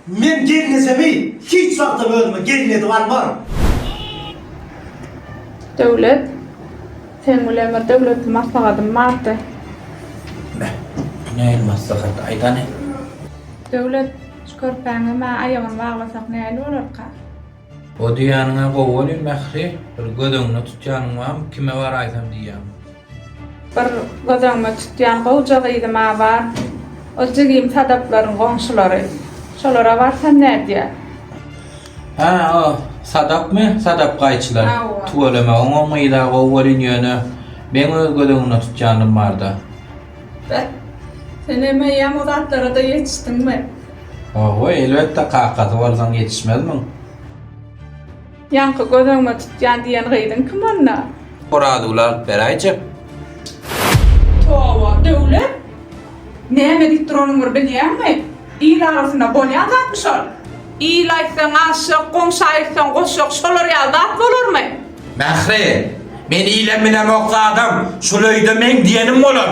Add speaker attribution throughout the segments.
Speaker 1: Men gelnejemi hiç wagtam özüme gelin edip almaryn.
Speaker 2: Döwlet, Sen bilen bir döwletli maslahatym bardy. Beh, bu
Speaker 3: nähili maslahat, aýdany?
Speaker 2: Döwlet, Şu körpäňem-ä aýagyny baglasak nähili bolarka? O
Speaker 3: diýýäniň-ä gowy welin, Mähri, bir göz öňüne tutýanyň barmy, kime baraýsam diýýäň? Bir
Speaker 2: göz öňüme tutýan gowja gyzym-a bar. Ol jigim Sadaplaryň goňşulary. Şolara barsam nädýär?
Speaker 3: Hä, o Sadapmy? Sadap gaýçylar. Hawa. Tüweleme,
Speaker 2: oňam gyz-a
Speaker 3: gowy welin, ýöne meň öz göz öňünde tutýanym bar-da. Beh,
Speaker 2: sen emeýem o zatlara-da ýetişdiňmi? Hawa,
Speaker 3: elbetde, kakasy bolsaň ýetişmezmiň? Ýaňky
Speaker 2: göz öňüme tutýan diýen gyzyň kim onda? Orazuguly alyp
Speaker 3: beräýjek. Toba,
Speaker 2: Döwlet! Näme diýip duranyňy bilýäňmi? Il arasynda bolýan zatmy şol? Il aýtsaň aşyk, goňşy aýtsaň goşuk, şolar ýaly zat bolarmy? Mähri,
Speaker 3: men ile bilemok zadam, şul öýde meň diýenim bolar.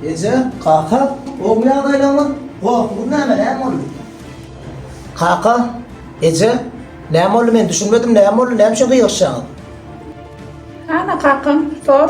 Speaker 1: Eje, kaka, oba ýagdaýlaryňyz gorkusyz näme, näme boldy? Kaka, eje, näme boldy, men düşünmedim, näme boldy, näme üçin gygyryşýaňyz?
Speaker 2: Hana kakam, sor.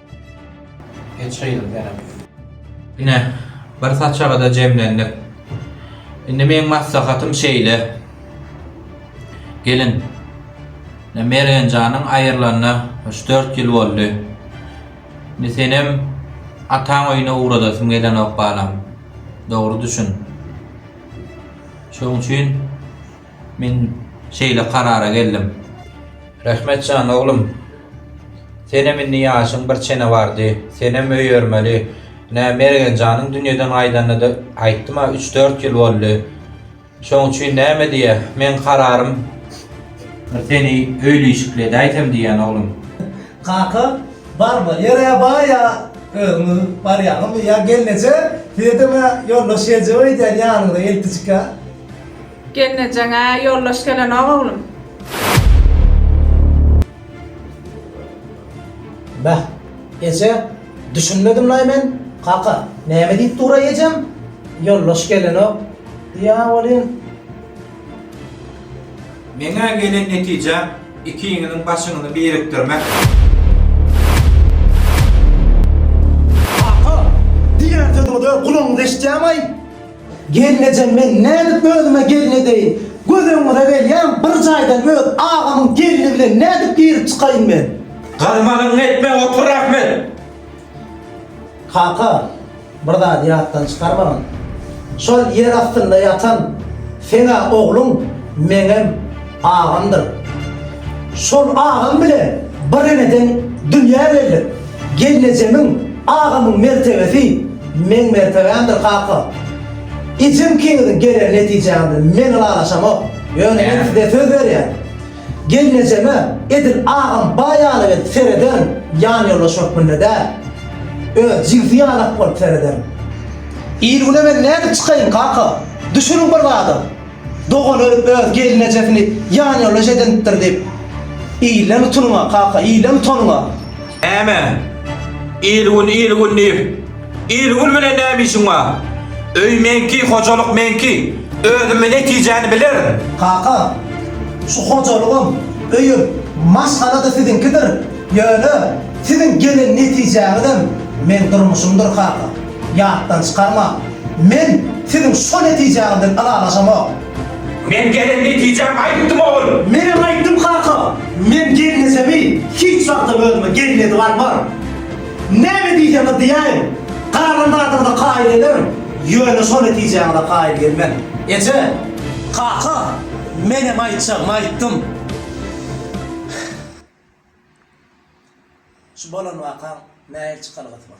Speaker 3: Ine, bir saçaga-da jemlendik. Indi meň maslahatym şeýle. Gelin, ine Mergen janyň aýrylanyna üç-dört ýyl boldy. Indi senem ataň öýüne ugradasym gelenok balam. Dogry düşün. Şoň üçin Men şeýle karara geldim. Rehmet jan oglum. Senem indi ýaşyň bir çene bardy. Senem öýermeli. Ine, Mergen janyň dünýeden gaýdanyna-da aýtdym-a üç-dört ýyl boldy. Şoň üçin näme diýä, meň kararym bir seni öýlüýşükledäýsem diýýän oglum. Kaka,
Speaker 1: bar bolýar-ä baý ýa özüňiz barýaňyzmy ýa gelneje size deme ýoldaş geljek öýdýän ýanyňda eltijik-ä.
Speaker 2: Gelnejeňe ýoldaş gelenok oglum.
Speaker 1: Beh, eje, düşünmedim-laý men. Kaka, näme diýip duraý ejem? Ýoldaş gelenok diýýä welin.
Speaker 3: Meň-ä gelen netijäm ikiňiziň başyňyzy birikdirmek.
Speaker 1: Kaka, diýýän sözüňize gulagyňyz eşidýämi-aý? Gelneje men nädip özüme gelin edeýin? Göz öňüňize gelýän bir jaýdan öz agamyň gelni bilen nädip girip çykaýyn men? Galmanyňy
Speaker 3: etme, otur Ahmet! Kaka,
Speaker 1: bir zady ýatdan çykarmagyň. Şol ýer astynda ýatan seň-ä ogluň meňem agamdyr. Şol agam bilen bir eneden dünýä geldik. Gelnejemiň, agamyň mertebesi meň mertebämdir kaka. Ejem kiňiziň geler netijäňi bilen men ylalaşamok. Ýöne men size söz berýän. Gelnejeme edil agam baý ýaly gelip serederin, ýanýoldaş hökmünde däl. Öz jigsi ýalak bolup serederin. Il güne men nädip çykaýyn kaka? Düşüriň bir zada. Dogany öz gelnejesini ýanýoldaş edinipdir diýip, ilen utunyňa, kaka, ilen utanyňa! Näme?
Speaker 3: Il-gün, il-gün diýip, il-gün bilen näme işiň bar? Öý meňki, hojalyk meňki, özüm bir netijäni bilerin. Kaka,
Speaker 1: şu hojalygym, öýüm, maşgala-da siziňkidir, ýöne siziň gelen netijäňizem meň durmuşymdyr, kaka. Ýatdan çykarmaň. Men siziň şo netijäňizden ylalaşamok. Men gelen
Speaker 3: netijämi aýtdym, ogul. Menem aýtdym, kaka.
Speaker 1: Men gelnesemi, hiç wagtam özüme gelin edip almaryn. Näme diýseňiz diýäýiň, garalandadygyza kaýyl gelerin, ýöne şo netijäňize kaýyl gelmen, eje. Kaka, menem aýtjagymy aýtdym. Şu bolan wakaň nähili çykalgasy bar?